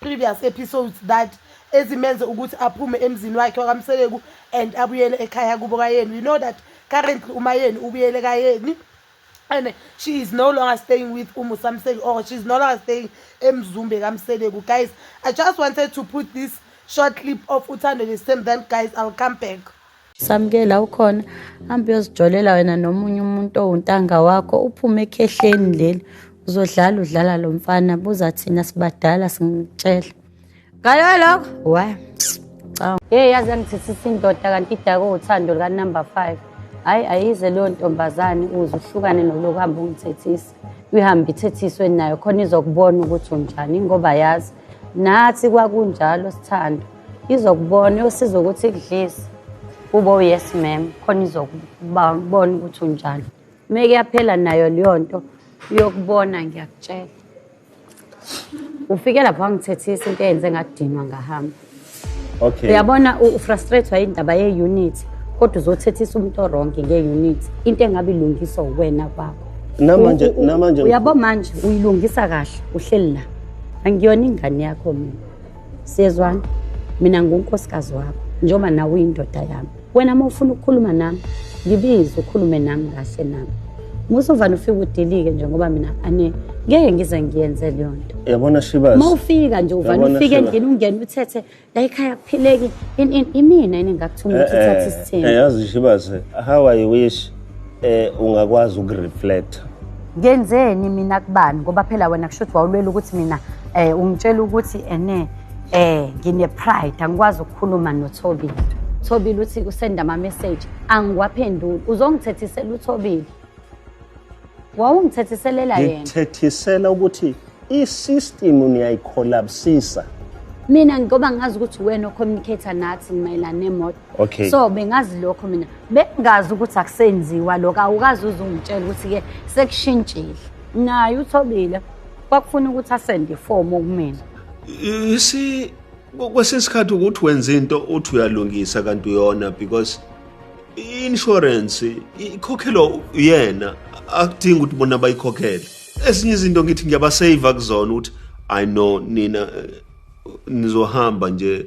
previous episodes that ezimenze ukuthi aphume emzini wakhe wakamseleku and abuyele ekhaya kubo kayeni we know that currently umayeni ubuyele kayeni and she is no longer staying with umusamseki or she is no longer staying emzumbe kamseleku guys i just wanted to put this short clip of uthando this time then guys i'll come back samkela ukhona hambe uyozijolela wena nomunye umuntu owuntanga wakho uphume ekhehleni leli uzodlala udlala lo mfana buza thina sibadala singitshela ngalo lokho wa hey yazi yangithethisa indoda kanti idake uthando lukanumber five hhayi ayize leyo ntombazane uze uhlukane nolokuhamba ungithethisa ihambe ithethiswe nayo khona izokubona ukuthi unjani ngoba yazi nathi kwakunjalo sithando izokubona yosiza ukuthi kudlise ube yes ma'am khona izokubona ukuthi unjani uma kuyaphela nayo leyo nto uyokubona ngiyakutshela ufike lapho wangithethisa into eyenze ngadinwa ngahamba okay uyabona ufrustrathwa indaba ye-unit kodwa uzothethisa umuntu oronke nge-unit into engabe ilungiswa uwena kwakho namanje namanje uyabo manje uyilungisa kahle uhleli la angiyona ingane yakho mina siyezwana mina ngunkosikazi wakho njengoba nawe uyindoda yami wena uma ufuna ukukhuluma nami ngibize ukhulume nami kahle nami musovane ufike udilike nje ngoba mina ane ngeke ngize ngiyenze leyo nto yabona shibas uma ufika nje uvane ufike endlini ungene uthethe la ikhaya kuphileki imina yini ngakuthuma eh, ukuthi uthathe eh, isithembu eh, yazi shibas how i wish eh ungakwazi ukureflect ngenzeni mina kubani ngoba phela wena kusho ukuthi wawulwela ukuthi mina eh ungitshela ukuthi ene Eh ngine pride angikwazi ukukhuluma noThobile. Thobile uthi usenda ama message angiwaphenduli. Uzongithethisela uThobile. Wawungithethiselela yena. Ngithethisela ukuthi i-system niyayicollapsisa. Mina ngoba ngazi ukuthi wena ocommunicator nathi mayelana nemoto. okay so bengazi lokho mina bengazi ukuthi akusenziwa lokho awukazi uze ungitshela ukuthi-ke sekushintshile naye uthobile kwakufuna ukuthi asende ifomu kumina you see kwesinye isikhathi ukuthi wenza into uthi uyalungisa kanti uyona because i-insurance ikhokhelwa uyena akudingi ukuthi bona bayikhokhele ezinye izinto ngithi ngiyabasave kuzona ukuthi i know nina eh, nizohamba nje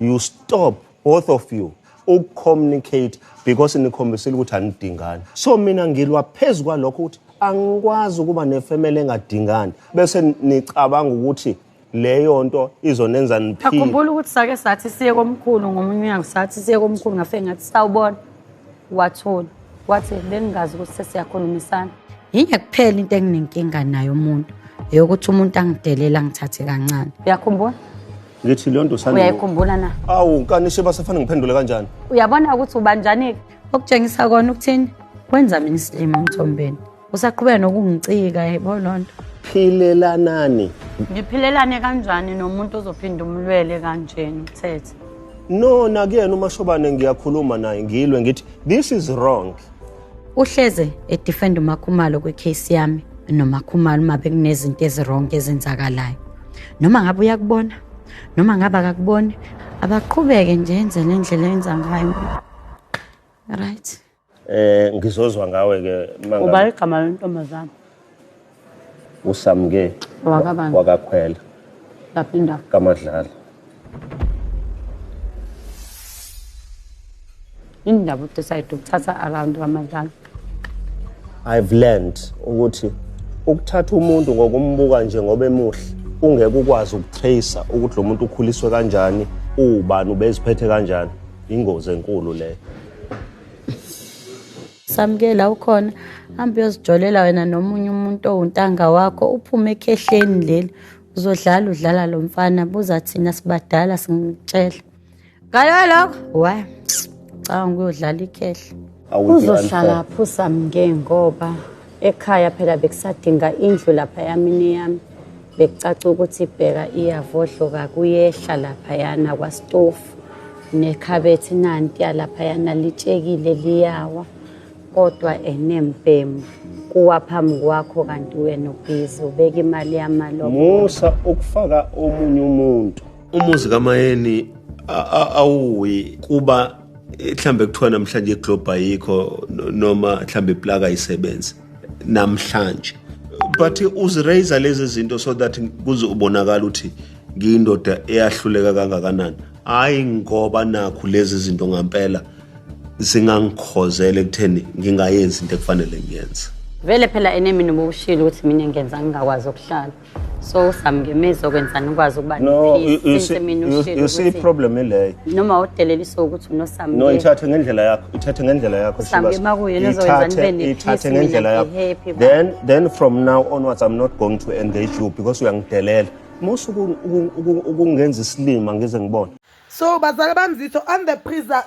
you stop both of you ukucommunicate because nikhombisile ukuthi anidingani so mina ngilwa phezu kwalokho ukuthi angikwazi ukuba nefamily engadingani bese nicabanga ukuthi leyo nto izonenza niphile akhumbula ukuthi sake sathi siye komkhulu ngomunye unyanga sathi siye komkhulu ngafe ngathi sawubona wathola wathi bengingazi ukuthi sesiyakhulumisana yinye kuphela into enginenkinga nayo umuntu eyokuthi umuntu angidelela ngithathe kancane uyakhumbula ngithi leyo nto sani uyayikhumbula na awu nkani sheba sefane ngiphendule kanjani uyabona ukuthi ubanjani-ke okutshengisa kona ukuthini kwenza mina isilima emthombeni usaqhubeka nokungicika yebo loo nto philelanani ngiphilelane kanjani nomuntu ozophinda umlwele kanjena ukuthethe no nakuyena umashobane ngiyakhuluma naye ngilwe ngithi this is wrong Uhleze edefend uMakhumalo kwicase yami noMakhumalo uma bekunezinto ezironke ezenzakalayo. Noma ngabe uyakubona noma ngabe akakuboni abaqhubeke nje enze le ndlela enza ngayo. Right. Eh ngizozwa ngawe ke manga. Uba igama lentombazana. usamke Wakabani? wakakhwela lapha indawo kamadlala indaba udecide ukuthatha around kwamadlala i've learned ukuthi ukuthatha umuntu ngokumbuka nje ngoba emuhle ungeke ukwazi ukutracer ukuthi lo muntu ukhuliswe kanjani uwubani ubeziphethe kanjani ingozi enkulu leyo samukela ukhona hambe uyozijolela wena nomunye umuntu owuntanga wakho uphume ekhehleni leli uzodlala udlala lo mfana buza thina sibadala singitshela ngalo lokho wa cabanga ukuyodlala ikhehla uzohlala phusa mke ngoba Ekhaya phela bekusadinga indlu lapha yamini yami. Bekucaca ukuthi ibheka iyavodloka kuyehla lapha yana kwastofu. Nekhabethi nanti yalapha yana litshekile liyawa. Kodwa enembhemu kuwa phambi kwakho kanti wena ubhizi ubeka imali yamalo. Musa ukufaka omunye umuntu. Umuzi kaMayeni awuwi kuba mhlambe kuthiwa namhlanje iglobe ayikho noma mhlambe iplaka ayisebenzi namhlanje but uziraise lezi zinto so that kuze ubonakala ukuthi ngiyindoda eyahluleka kangakanani hayi ngoba nakhu lezi zinto ngampela zingangikhozela ekutheni ngingayenzi into ekufanele ngiyenze vele phela enemini ubushilo ukuthi mina ngenza ngingakwazi ukuhlala so samngemeza okwenzani ukwazi ukuba no you, you see, you, you see problem ileyo noma udelelisa ukuthi unosambe no ithathe ngendlela yakho ithathe ngendlela yakho sambe makuyena ozoyenzani ithathe ngendlela yakho then then from now onwards i'm not going to engage you because uyangidelela musu ukungenza isilima ngize ngibone so bazali bamzitho on the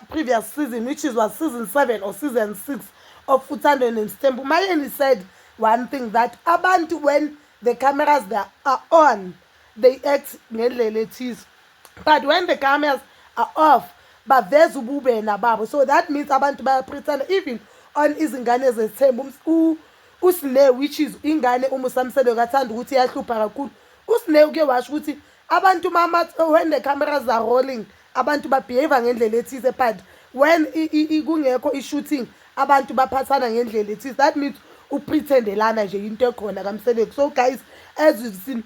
previous season which is was season 7 or season 6 of futhandweni and stembu mayeni said one thing that abantu when the cameras they are on they act ngendlela ethize but when the cameras are off baveza ububena babo so that means abantu bayapretenda even on izingane zethemba usine which is ingane umusamselo kathanda ukuthi iyahlupha kakhulu usine uke washo ukuthi abantu mama when the cameras are rolling abantu babehave ngendlela ethize but when kungekho i-shooting abantu baphathana ngendlela ethize that means uprethendelana nje into ekhona kamseleku so guys as we've seen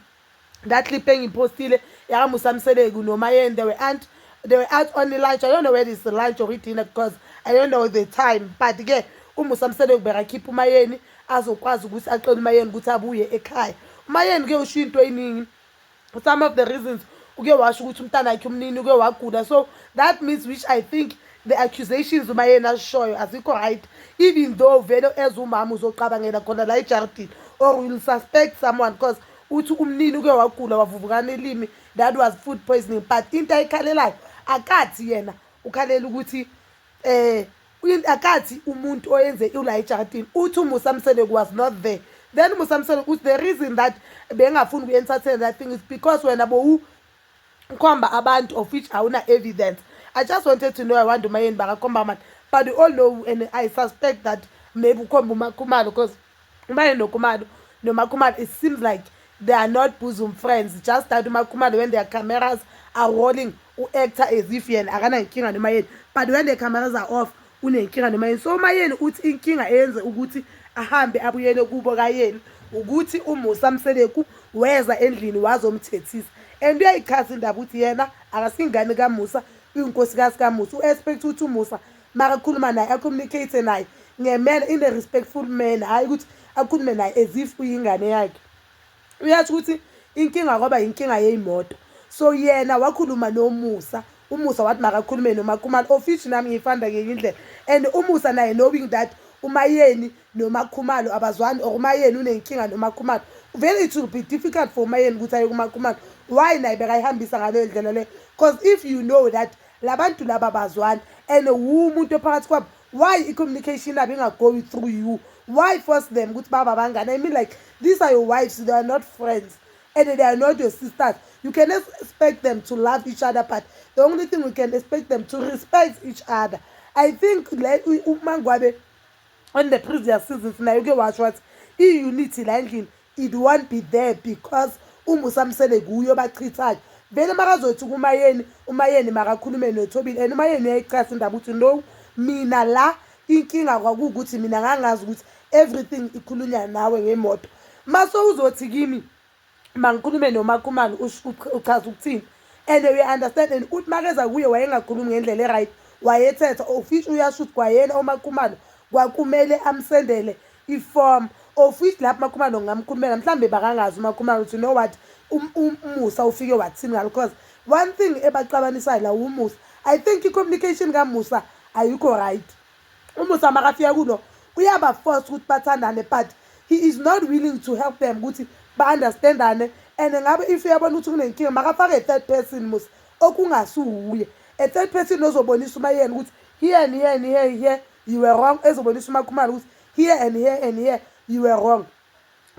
that clip engiyiphostile yakamusa mseleku nomayeni they were aunt they were out on lunch i don't know whether it's lunch or dinner because i don't know the time but ke umusa mseleku bekakhipha umayeni azokwazi ukuthi axele umayeni ukuthi abuye ekhaya umayeni ke usho into eyiningi some of the reasons uke washo ukuthi umntana wakhe umnini uke wagula so that means which i think the accusations uma yena asishoyo azikho right even though vele as umama uzoqabangela khona la ejardini or will suspect someone because uthi umnini uke wagula wavuvukana ilimi that was food poisoning but into ayikhalelayo akathi yena ukhalela ukuthi um Uyini akathi umuntu oyenze ula ejaradini uthi umusa msele was not there then umusa msele uthi the reason that bengafuni ukuyensathela that thing is because wena bowu ukhomba abantu of which awuna evidence i just wanted to know i wonder umayeni bakakhomba amani but we all know and i suspect that maybe ukhomba umakhumalo because Umane noKhumalo noMakhumalo it seems like they are not bosom friends just that uMakhumalo when their cameras are rolling u-actor as if yena akanankinga noma yeni but when the cameras are off unenkinga noma yini so uma yeni uthi inkinga eyenze ukuthi ahambe abuyele kubo kayeni ukuthi umusa mseleku weza endlini wazomthethisa and uyayichaza indaba ukuthi yena akasingane kamusa uyinkosi kasikamusa u-expect ukuthi umusa makakhuluma naye acommunicate naye ngemela in a respectful manner hhayi ukuthi akhulume naye as if uyingane yakhe uyasho ukuthi inkinga kwaba yinkinga yeyimoto so yena wakhuluma nomusa umusa wathi makakhulume nomakhumalo of which nami ngiyifanda ngenye indlela and umusa naye knowing that umayeni nomakhumalo abazwani or umayeni unenkinga nomakhumalo vele it will be difficult for umayeni ukuthi aye kumakhumalo why naye bekayihambisa ngaleyo ndlela leyo because if you know that labantu laba bazwani and wu umuntu ophakathi kwabo why i-communication yabo ingagoyi through you why force them ukuthi baba abangani i mean like these are your wives they are not friends and they are not your sisters you can expect them to love each other but the only thing we can expect them to respect each other i think le umangwabe on the previous seasons naye uke washo wathi i-unity la endlini It won't be there because uMusa Msele kuye obachithayo. Vele makazothi kuMayeni, uMayeni makakhulume noThobile and uMayeni uyayichaza indaba ukuthi no mina la inkinga kwakuwukuthi mina ngangazi ukuthi everything ikhulunywa nawe ngemoto. Mase uzothi kimi mangikhulume noMakhumalo uchaza ukuthini and we understand and uthi makeza kuye wayengakhulumi ngendlela e-right wayethetha ofisho uyasho ukuthi kwayena uMakhumalo kwakumele amsendele iform of which lapho umakhumalo ngingamkhulumela mhlawumbe bakangazi umakhumalo ukuthi you know what um, um, umusa ufike wathini ngalo because one thing ebaxabanisayo la umusa i think i-communication kamusa ayikho right umusa makafika kulo uyabaforce ukuthi bathandane but he is not willing to help them ukuthi ba-understandane and ngabe if uyabona ukuthi kunenkinga makafake i-third person musa okungasuwuye a-third person ozobonisa umayeni ukuthi here and here and here here you were wrong ezobonisa umakhumalo ukuthi here and here and here you were wrong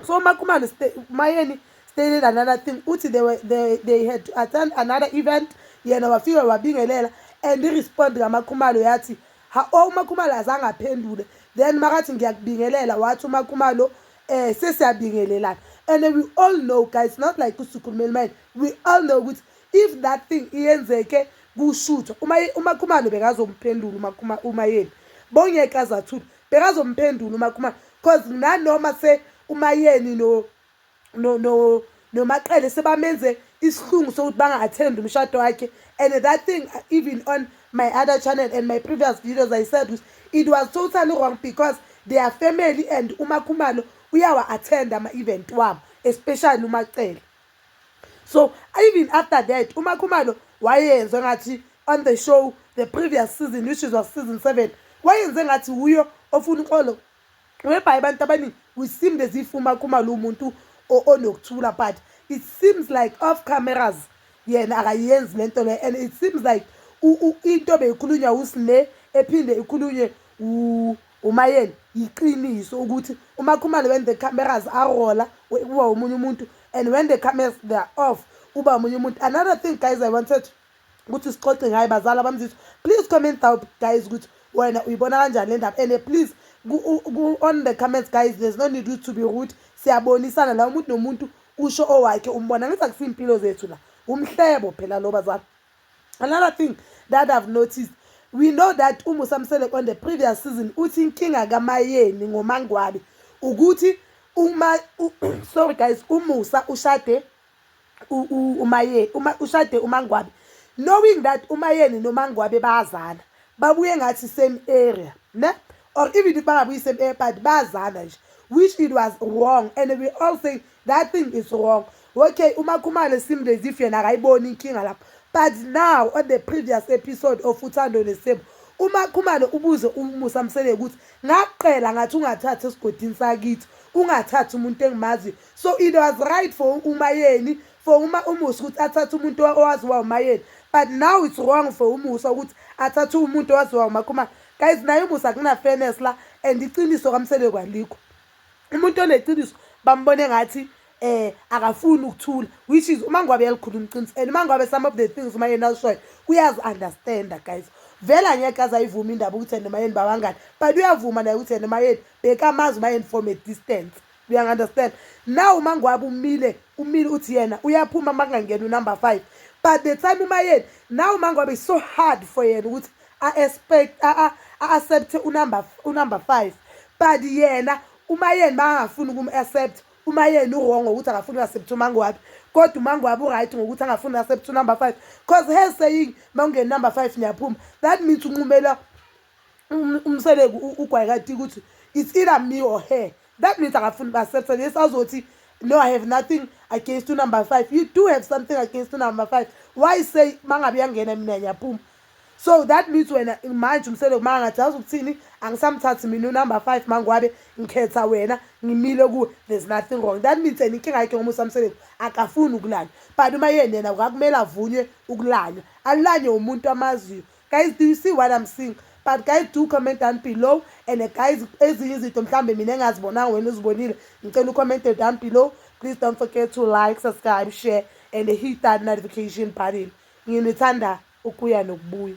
so umakhumalo mayeni stated another thing uthi they, were, they, they had to attend another event yena wafika wabingelela and i-respond kamakhumalo yathi ha o oh, umakhumalo azange aphendule then makathi ngiyakubingelela wathi umakhumalo um eh, sesiyabingelelana and we all know guys not like usukhulumeli manje we all know ukuthi if that thing iyenzeke kushutha uma umakhumalo bekazomphendula uma kuma uma yena bongeke azathula bekazomphendula uma kuma cause nanoma se uma yeni no no no nomaqele sebamenze isihlungu sokuthi banga attend umshado wakhe and that thing uh, even on my other channel and my previous videos i said was, it was totally wrong because they are family and umakhumalo uyawa attend ama event wabo especially umacele so even after that umakhumalo wayenze ngathi on the show the previous season which is was season seven wayenze ngathi wuyo ofuna uxolo webhayi abantu abaningi we seemed as if umakhumalo umuntu onokuthula but it seems like off cameras yena akayenzi le nto le and it seems like into beyikhulunywa usine ephinde ikhulunywe Umayeni yiqiniso ukuthi umakhumalo when the cameras arola uba omunye umuntu and when the cameras they are off uba omunye umuntu another thing guys i wanted ukuthi sixoxe ngayo bazali abamzizwa please comment down guys ukuthi wena uyibona kanjani le ndaba and please on the comments guys there's no need to be rude siyabonisana la umuntu nomuntu usho owakhe umbona ngithi akusiyimpilo zethu la umhlebo phela lo bazali Another thing that I've noticed, we know that uMusamsele on the previous season uthi inkinga kaMayeni ngoMangwabe ukuthi uma u, sorry guys uMusa ushade uMaye uma ushade uMangwabe knowing that uMayeni noMangwabe bayazana babuye ngathi same area ne or even if bangabuyi same area but bayazana nje which it was wrong and we all say that thing is wrong okay umakhumane seemed as if yena akayiboni inkinga lapho but now on the previous episode of uthando nesebo umakhumane ubuze umusa msele ukuthi ngaqela ngathi ungathathi esigodini sakithi ungathathi umuntu engimaziyo so it was right for umayeni for uma umusa ukuthi athathe umuntu owaziwa umayeni but now it's wrong for umusa ukuthi athathe umuntu owaziwa umakhumane guys naye umusa kunafenes la and iqiniso kamsele kwalikho umuntu oneqiniso bambone ngathi eh akafuni ukuthula which is uma ngwabe yalikhuluma iqiniso and uma ngwabe some of the things uma yena ushoyo uyazi understanda guys vele angeke aze ayivuma indaba ukuthi yena umayeni babangani but uyavuma naye ukuthi yena umayeni bekamazi umayeni from a distance uyangi-understand now uma ngwabe umile umile uthi yena uyaphuma uma kungangena unumber five but the time umayeni now uma ngwabe so hard for yena ukuthi a-expect a-accept unumber unumber 5 but yena umayeni bangafuni ukum-accept umayeni uwrong ngokuthi akafuni uaccept umangwabi kodwa umangwabi uright ngokuthi angafuni uaccept unumber 5 cause her saying uma ungeni number 5 niyaphuma that means unqumela um, umseleku ugwayikati ukuthi it's either me or her that means akafuni ba-accepta yes azothi no i have nothing against unumber 5 you do have something against unumber 5 why say mangabe yangena mina ngiyaphuma so that means wena manje umsele uma ngathi azi ukuthini angisamthathi mina unumber 5 mangwabe ngikhetha wena ngimile kuwe there's nothing wrong that means and inkinga yakhe ngomusa mseleku akafuni ukulanywa but uma yena yena kwakumele avunywe ukulanywa alulanywe umuntu amaziyo guys do you see what i'm seeing but guys do comment down below and guys ezinye izinto mhlawumbe mina engazibonanga wena uzibonile ngicela ucommente down below please don't forget to like subscribe share and hit that notification button nginithanda ukuya nokubuya.